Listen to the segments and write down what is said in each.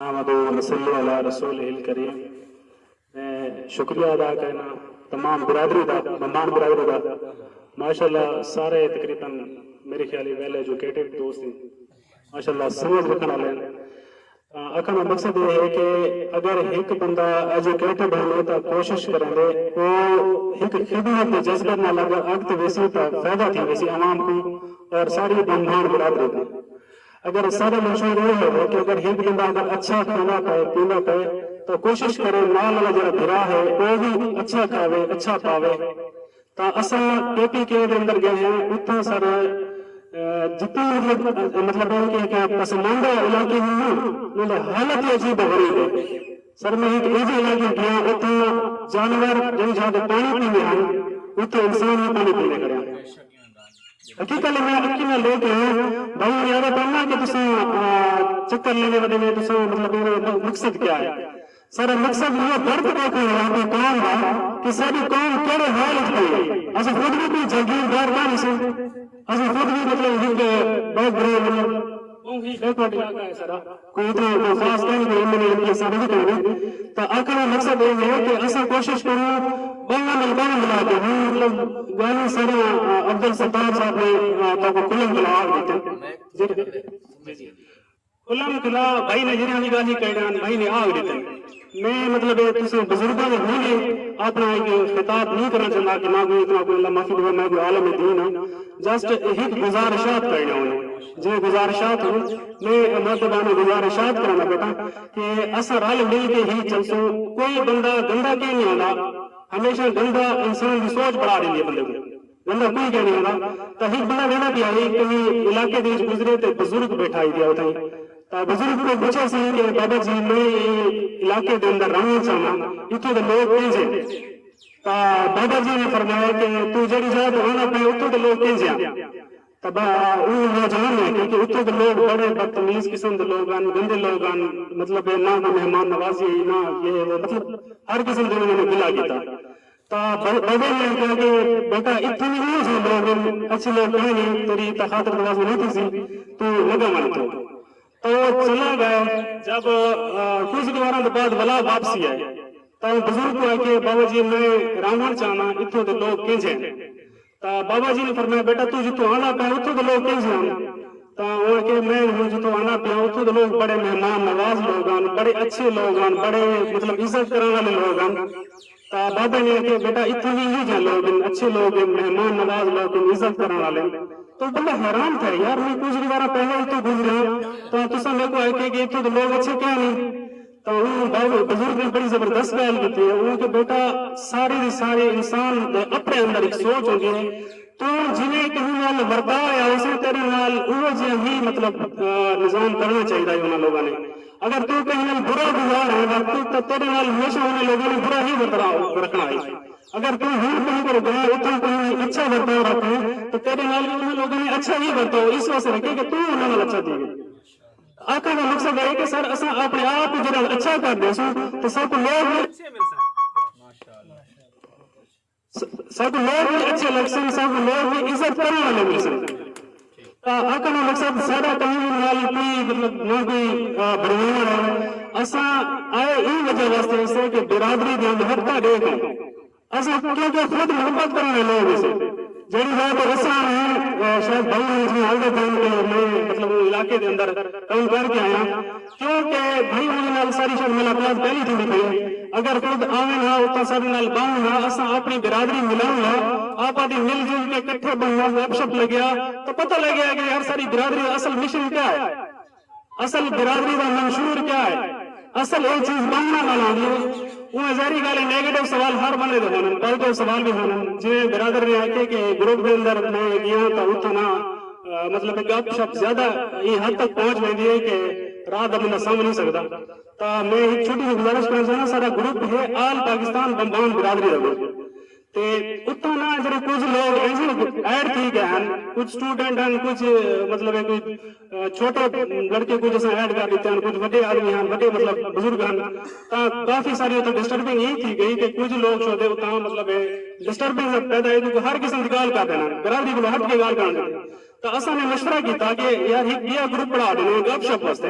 احمدو نصلی علی رسولہ الکریم میں شکریہ ادا کرنا تمام برادری دا ممان برادری دا ماشاءاللہ سارے تقریبا میرے خیال اچ ویل ایجوکیٹڈ دوست ہن ماشاءاللہ سمجھ رکھن آلے ہن تاں آکھن دا مقصد اے ہے کہ اگر ہک بندہ ایجوکیٹڈ ہوندے تاں کوشش کریندے او ہک خدمت دے جذبے نال اگر اگتے ویسی تاں فائدہ تھی ویسی عوام کوں اور ساڈی بھنبھان برادری کوں۔ اگر اساں دا منشور ایہو ہووے کہ اگر ہک بندہ اگر اچھا کھاندا پئے پیندا پئے تاں کوشش کرے نال آلا جیہڑا بھرا ہے او وی اچھا کھاوے اچھا پاوے تاں اساں کے پی کے دے اندر گئے ہیں اتھاں سارے جتنی مطلب مطلب ہے کہ ہک پسماندہ علاقے ہن نا انہاں دی حالت ہی عجیب و غریب ہے سر میں ہک ایجھے علاقے گیا اتھاں جانور جئیں جھاں توں پانی پیندے ہن اتھاں انسان وی پانی پیندے کھڑے ہن۔ اکی کل میں اکی نال لے کے آیاں بھائی یارو پرنا کہ تساں چکر لیندے ودے نے تساں مطلب ایرے مقصد کیا ہے سارا مقصد ایہو درد دیکھنا ہے اپنی قوم دا کہ ساڈی قوم کیڑے حال اچ پئی ہے اساں خود وی کوئی جاگیردار کائنی ساں اساں خود وی مطلب ہک بیک گراؤنڈ مطلب اوں ہی شے تہاڈی اڳ ہے سرا۔ کوئی تے کوئی خاص کہنی دے عملی عملی اثر نظر کونی تاں آکھݨ دا مقصد اے ہے کہ اساں کوشش کریوں ٻانہہ نال ٻانہہ ملا کے ہوں مطلب ڳالھیں ساریاں افضل ستار صاحب نے تہاکوں کھلم کھلا آکھ ݙتن۔ جی جی کھلم کھلا بھائی نے جیرھیاں وی ڳالھیں کریان بھائی نے آکھ ݙتن۔ میں مطلب اے تساں بزرگاں دے ہوندے آپݨا ہک خطاب نی کرݨا چہندا کہ ماکوں اتنا کوئی اللہ معافی ݙیوے میں کوئی عالم دین ہاں جسٹ ہک گزارشات کرݨیاں ہن جیویں گزارشات ہن میں مؤدبانہ گزارشات کرݨا ٻیٹھاں کہ اساں رل مل کے ہی چلسوں کوئی بندہ گندا کینی ہوندا ہمیشہ گندا انسان دی سوچ بݨا ݙیندی اے بندے کوں۔ بندہ کوئی کہہ نی ہوندا تاں ہک بندہ ویندہ پیا ہئی کہیں علاقے دے وچ گزرے تے بزرگ بیٹھا ہئی پیا اتھائیں تاں بزرگ کوں پچھیا سی کہ بابا جی میں ایں علاقے دے اندر رہونڑ چاہنداں اتھوں دے لوگ کینجھے ہن تاں بابا جی نے فرمایا کہ توں جیڑھی جاہ تے رہوندا پئیں اتھوں دے لوگ کینجھے ہن تاں با اوں نوجوان نے آکھیا کہ اتھوں دے لوگ بڑے بدتمیز قسم دے لوگ ہن گندے لوگ ہن مطلب نہ کوئی مہمان نوازی ہئی نہ یہ وہ مطلب ہر قسم دے انہاں نے گلہ کیتا تاں بلبلیں نے آکھیا کہ بیٹا اتھاں وی اوہو ساں بھلا ول اچھی لوک کائیں نے تیڈی تاں خاطر تواضع نہ تھیسی توں لگا ونج توں تاں او چلا گئے جب کجھ ڈیواراں دے بعد ولا واپسی آئے تاں بزرگ کوں آکھیا بابا جی میں رانونڑ چاہناں اتھاں دے لوک کینجھے ہن تاں بابا جی نے فرمایا بیٹا توں جتھوں آندا پیاں اتھوں دے لوک کینجھے ہن؟ تاں اوہ آکھیا میں ہن جتھوں آندا پیاں اتھوں دے لوک بڑے مہمان نواز لوک ہن، بڑے اچھے لوک ہن، بڑے مطلب عزت کرݨ آلے لوک ہن۔ تاں بابے نے آکھیا بیٹا اتھاں وی ایہو جھیاں لوک ہن، اچھے لوک ہن، مہمان نواز لوک ہن، عزت کرݨ آلے ہن۔ تاں اوہ بندہ حیران تھیا یار میں کجھ وی وارھاں پہلے اتھوں گزریاں تاں تساں میکوں آکھیا کہ اتھوں دے لوک اچھے کائنی۔ تاں اوں باوے بزرگ نے بڑی زبردست گالھ کیتی ہے اوں آکھیا بیٹا سارے دے سارے انسان دے اپنے اندر ہک سوچ ہوندی ہے توں جیویں کہیں نال ورتا ہویا ہوسیں تیڈے نال اوہو جیہاں ہی مطلب نظام کرنا چاہیدا ہے انہاں لوگاں نے اگر توں کہیں نال برا گزار ہے ورت تاں تیڈے نال ہمیشہ انہاں لوگاں نے برا ہی ورترا رکھنا ہے اگر توں ہن کہیں کول گئے اتھاں کہیں نال اچھا ورتاؤ رکھیں تاں تیڈے نال وی انہاں لوگاں نے اچھا ہی ورتاؤ اس واسطے رکھیں کہ توں انہاں نال اچھا تھیویں۔ آکھݨ دا مقصد اے کہ سر اساں آپݨے آپ کوں جݙاں اچھا کر ݙیسوں تاں ساکوں لوک وی ساکوں لوک وی اچھے لڳسن ساکوں لوک وی عزت کرݨ والے ملسن تاں آکھݨ دا مقصد ساݙا کہیں کوں نال کوئی مطلب نہ کوئی بھڑواوݨ اے اساں آئے ایں وجہ واسطے ہسے کہ برادری دیاں محبتاں ݙیکھ اساں کیونکہ خود محبت کرݨ آلے لوگ ہیسے جیڑھی جاہ تے اساں ہیں شاید بھائی ہوݨ جیویں ہال دے پئن تے میں مطلب اوں علاقے دے اندر کم کر کے آیاں کیونکہ بھائی ہوݨ نال ساری شاید ملاقات پہلی تھیندی پئی ہے اگر خود آون ہا اتھاں ساݙے نال ٻہون ہا اساں آپݨی برادری ملاون ہا آپاں دی مل جل کے کٹھے ٻہون گپ شپ لڳیا تاں پتہ لڳیا کہ یار ساݙی برادری دا اصل مشن کیا ہے اصل برادری دا منشور کیا ہے؟ اصل اے چیز بانہنڑاں نال ہوندی ہے۔ اونویں ظاہری گالھ ہے نیگیٹو سوال ہر بندے دے ہوندن۔ پازیٹو سوال وی ہوندن۔ جیویں برادر نے آکھیے کہ گروپ دے اندر میں گیاں تاں اتھاں نہ مطلب ہے گپ شپ زیادہ ایں حد تک پہنچ ویندی ہے کہ راہ دا بندہ سمجھ نی سگدا۔ تاں میں ہک چھوٹی جی گزارش کرݨ چاہنڑاں ساڈا گروپ ہے آل پاکستان بمبان برادری دا گروپ۔ تے اتھاں نہ جیڑھے کجھ لوگ ایجنٹ ایڈ تھی گئے ہن کجھ سٹوڈنٹ ہن کجھ مطلب ہے کوئی چھوٹے لڑکے کجھ اساں ایڈ کر ڈتے ہن کجھ وڈے آدمی ہن وڈے مطلب بزرگ ہن تاں کافی ساری اتھاں ڈسٹربنگ ای تھی گئی کہ کجھ لوگ شودے اتھاں مطلب ہے ڈسٹربنگ پیدا ہے کیونکہ ہر قسم دی گالھ کر دے ہن برادری کولو ہٹ کے گالھ کرن لگے تاں اساں نے مشورہ کیتا کہ یار ہک بیا گروپ بنا دینے گپ شپ واسطے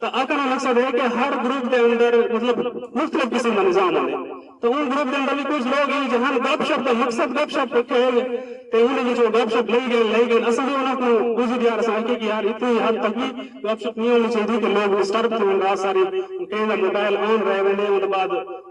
تاں آکھݨ دا مقصد ہے کہ ہر گروپ دے اندر مطلب مختلف قسم دا نظام ہوندے تاں اوں گروپ دے اندر وی کجھ لوگ ہن جیہاں گپ شپ دا مقصد گپ شپ رکھے ہے تے اوندے وچ او گپ شپ لئی ڳئن لئی ڳئن اساں وی انہاں کوں عذر دیار اساں آکھیے کہ یار اتنی حد تک وی گپ شپ نی ہونی چاہیدی کہ لوگ ڈسٹرب تھیون رات ساری کہیں دا موبائل آن رہ ویندے اوندے بعد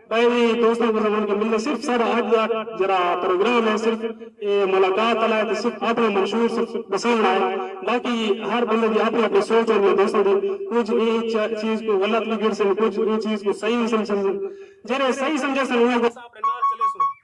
پہلے دوستاں کو سمجھ کے ملے صرف سارا اج دا جڑا پروگرام ہے صرف اے ملاقات والا ہے تے صرف اپنا منشور صرف دسان والا ہے باقی ہر بندے دی اپنی اپنی سوچ ہوندی ہے دوستاں دی کچھ اے چیز کو غلط وی گھڑسن کچھ اے چیز کو صحیح وی سمجھسن جیڑھے صحیح سمجھسن انہاں کو اساں اپنے نال چلیسوں۔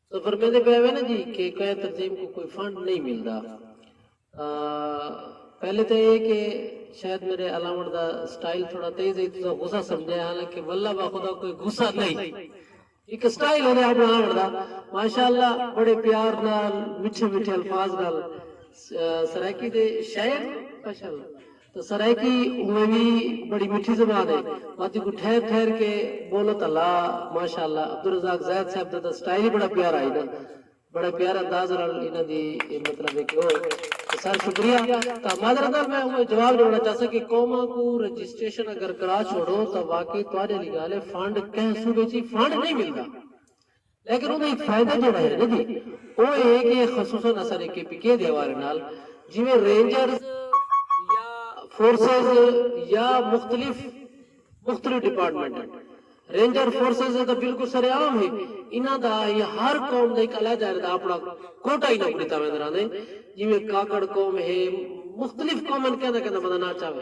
تساں فرمیندے پئے ہوے نا جی کہ کئیں تنظیم کوں کوئی فنڈ نئیں ملدا پہلے تاں اے کہ شاید میڈے الاونڑ دا سٹائل تھوڑا تیز ہئی تساں غصہ سمجھیا حالانکہ واللہ بخدا کوئی غصہ نئیں ہک سٹائل ہوندے اپنڑا آونڑ دا ماشاءاللہ بڑے پیار نال میٹھے میٹھے الفاظ نال سرائیکی دے شاعر ماشاءاللہ تاں سرائیکی اوویں وی بڑی مٹھی زبان ہے وت ایکوں ٹھہر ٹھہر کے بولو تاں لا ماشاء اللہ عبدالرزاق زید صاحب دا تاں سٹائل ہی بڑا پیارا ہئی نا بڑے پیارے انداز نال انہاں دی مطلب ہے کہ او تاں سر شکریہ تاں معذرت نال میں اوویں جواب ݙیوݨا چاہساں کہ قوماں کوں رجسٹریشن اگر کرا چھوڑو تاں واقعی تہاݙے آلی ڳالھ ہے فنڈ کہیں صوبے چ فنڈ نئیں ملدا لیکن اوندا ہک فائدہ جیڑھا ہے نا جی او اے ہے کہ خصوصا اساݙے کے پی کے دے حوالے نال جیویں رینجرز یا فورسز یا مختلف مختلف ڈیپارٹمنٹ ہن رینجر فورسز اے تاں بالکل سر عام ہے انہاں دا یا ہر قوم دا ہک علیحدہ علیحدہ اپݨا کوٹہ انہاں کوں ݙتا ویندا رہندا ہے جیویں کاکڑ قوم ہے مختلف قوم ہن کیندا کیندا بندہ نہ چاوے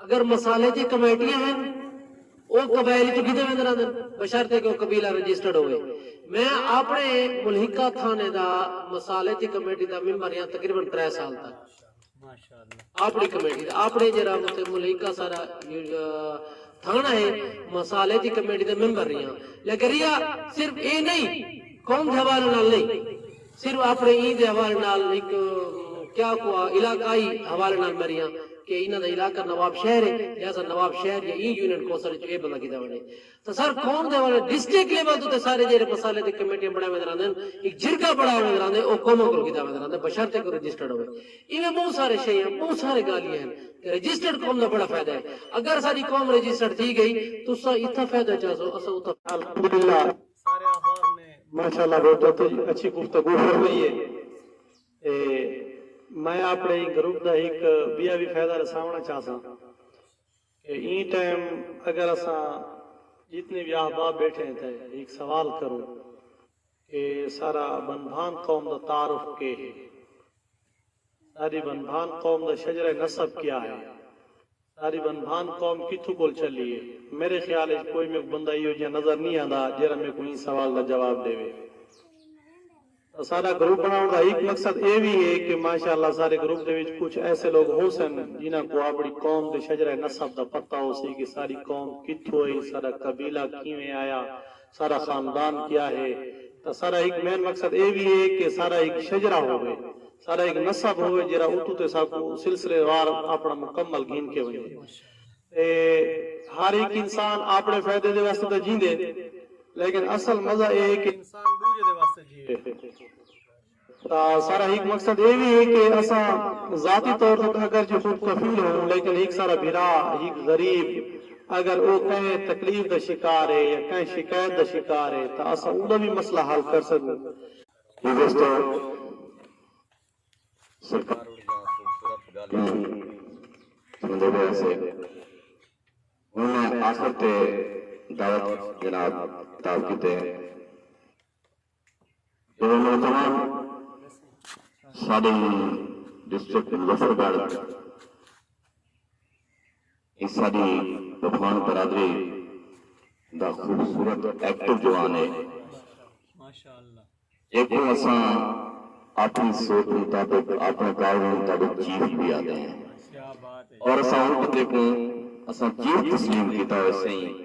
اگر مسالے اچ کمیٹیاں ہن او قبائل اچ گھدے ویندے رہندن بشرطیکہ او قبیلہ رجسٹرڈ ہووے۔ میں آپنڑے ملحقہ تھانے دا مسالے اچ کمیٹی دا ممبر ہیاں تقریبا ترے سال تک آپنڑی کمیٹی دا آپنڑے جیہڑا اتھے ملحقہ ساڈا تھانہ ہے مسالے اچ کمیٹی دا ممبر ریہاں لیکن ریہا صرف اے نئیں قوم دے حوالے نال نئیں۔ صرف اپݨے ایں دے حوالے نال ہک کیا کوا علاقائی حوالے نال میریاں کہ انہاں دا علاقہ نواب شہر ہے لہذا نواب شہر یا ایں یونین کونسل اچ اے بندہ گھدا ونجے تاں سر قوم دے حوالے ڈسٹرکٹ لیول توں تے سارے جیرھے مسالے تے کمیٹیاں بݨائے ویندے رہندے ہن ہک جرگہ بݨایا ویندے رہندے او قوماں کول گھدا ویندے رہندے بشرط کہ رجسٹرڈ ہووے ایویں ٻہوں سارے شیاں ٻہوں سارے گالھیاں ہن تے رجسٹرڈ قوم دا بڑا فائدہ ہے اگر اساݙی قوم رجسٹرڈ تھی ڳئی تساں اتھاں فائدہ چاسو اساں اتھاں الحمدللہ سارے احباب نے ماشاء اللہ بہت اچھی گفتگو فرمائی ہے تے میں اپنے ایں گروپ دا ہک بیا وی فائدہ رساونڑاں چاہساں کہ ایں ٹائم اگر اساں جتنے وی احباب بیٹھے ہیں تے ہک سوال کروں کہ سارا بنبھان قوم دا تعارف کے ہے؟ ساری بنبھان قوم دا شجرہ نسب کیا ہے؟ ساری بھن بھان قوم کتھوں کول چلی ہے۔ میرے خیال اچ کوئی میکوں بندہ ایہو جیہاں نظر نی آندا جیہڑا میکوں ایں سوال دا جواب ڈیوے۔ اساڈا گروپ بنڑاونڑ دا ہیک مقصد ایہہ وی ہے کہ ماشاء اللہ سارے گروپ دے وچ کچھ ایسے لوگ ہوسن جنہاں کوں آپنڑی قوم دے شجرہ نسب دا پتہ ہوسی کہ ساڈی قوم کتھوں آئی، ساڈا قبیلہ کیویں آیا، سارا خاندان کیا ہے تاں سارا ہک مین مقصد اے وی اے کہ سارا ہک شجرہ ہووے سارا ہک نسب ہووے جیرھا اتوں تے ساکوں سلسلے وار آپنڑا مکمل گھن کے ونجے تے ہر ہک انسان آپنڑے فیدے دے واسطے تاں جیندے لیکن اصل مزہ اے کہ انسان ڈوجھے دے واسطے جیوے۔ سارا ہک مقصد اے وی اے کہ اساں ذاتی طور تک اگر جی خود کفیل ہوں لیکن ہک سارا بھرا ہک غریب اگر او کہیں تکلیف دا شکار اے یا کہیں شکایت دا شکار اے تاں اساں اوندا وی مسئلہ حل کر سگوں۔ ہک اس توں سرکار اوندا خوبصورت گالھ کوں سنڑدے پئے ہسے۔ ہن میں آخر تے دعوت جناب خطاب کیتے۔ جڑے نوجوان ساڈی ڈسٹرکٹ مظفر گڑھ اس ساڈی بھوان برادری دا خوبصورت ایکٹو جوان ہے ایکوں اساں اپنی سوچ مطابق اپنے گاؤں میں تاڈو چیف بھی آدھے ہیں اور اساں ہوں کتے کوں اساں چیف تسلیم کیتا ہوئے سہیں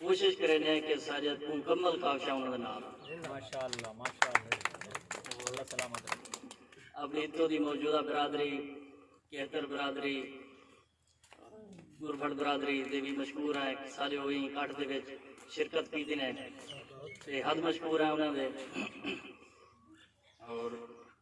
کوشش کریندے ہیں کہ ساجد کوں مکمل کاوشاں انہاں دے نال ہن۔ ماشاءاللہ ماشاءاللہ اللہ سلامت رکھے۔ اپنی اتھوں دی موجودہ برادری کہتر برادری گربھٹ برادری دے وی مشکور ہیں کہ سارے او ایں کٹھ دے وچ شرکت کیتی نے تے حد مشکور ہیں انہاں دے اور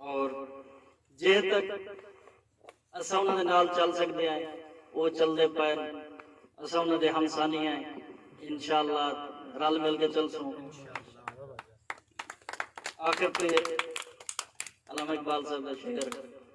اور جے تک اساں انہاں دے نال چل سکدے ہیں وہ چل دے پائن اساں انہاں دے ہمسانی ہیں انشاءاللہ رل مل کے چل سوں آخر پہ علامہ اقبال صاحب کا شعر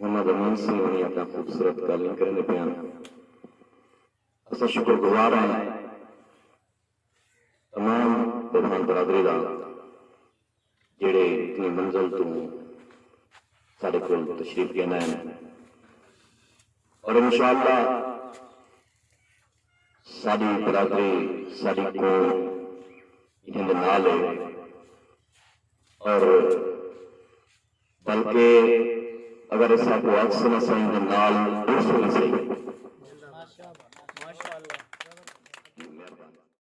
محمد امین سنگھ ہونی اپنا خوبصورت گالھیں کریندے پئے ہن۔ اساں شکر گزار ہیں تمام بدھان برادری دا جیڑھے اتنی منزل توں ساڈے کول تشریف گھن آئے ہن اور انشاءاللہ ساڈی برادری ساڈی قوم انہاں دے نال ہے اور بلکہ اگر اساں کو عکس نہ سہی تاں نال عرس وی نہ سہی۔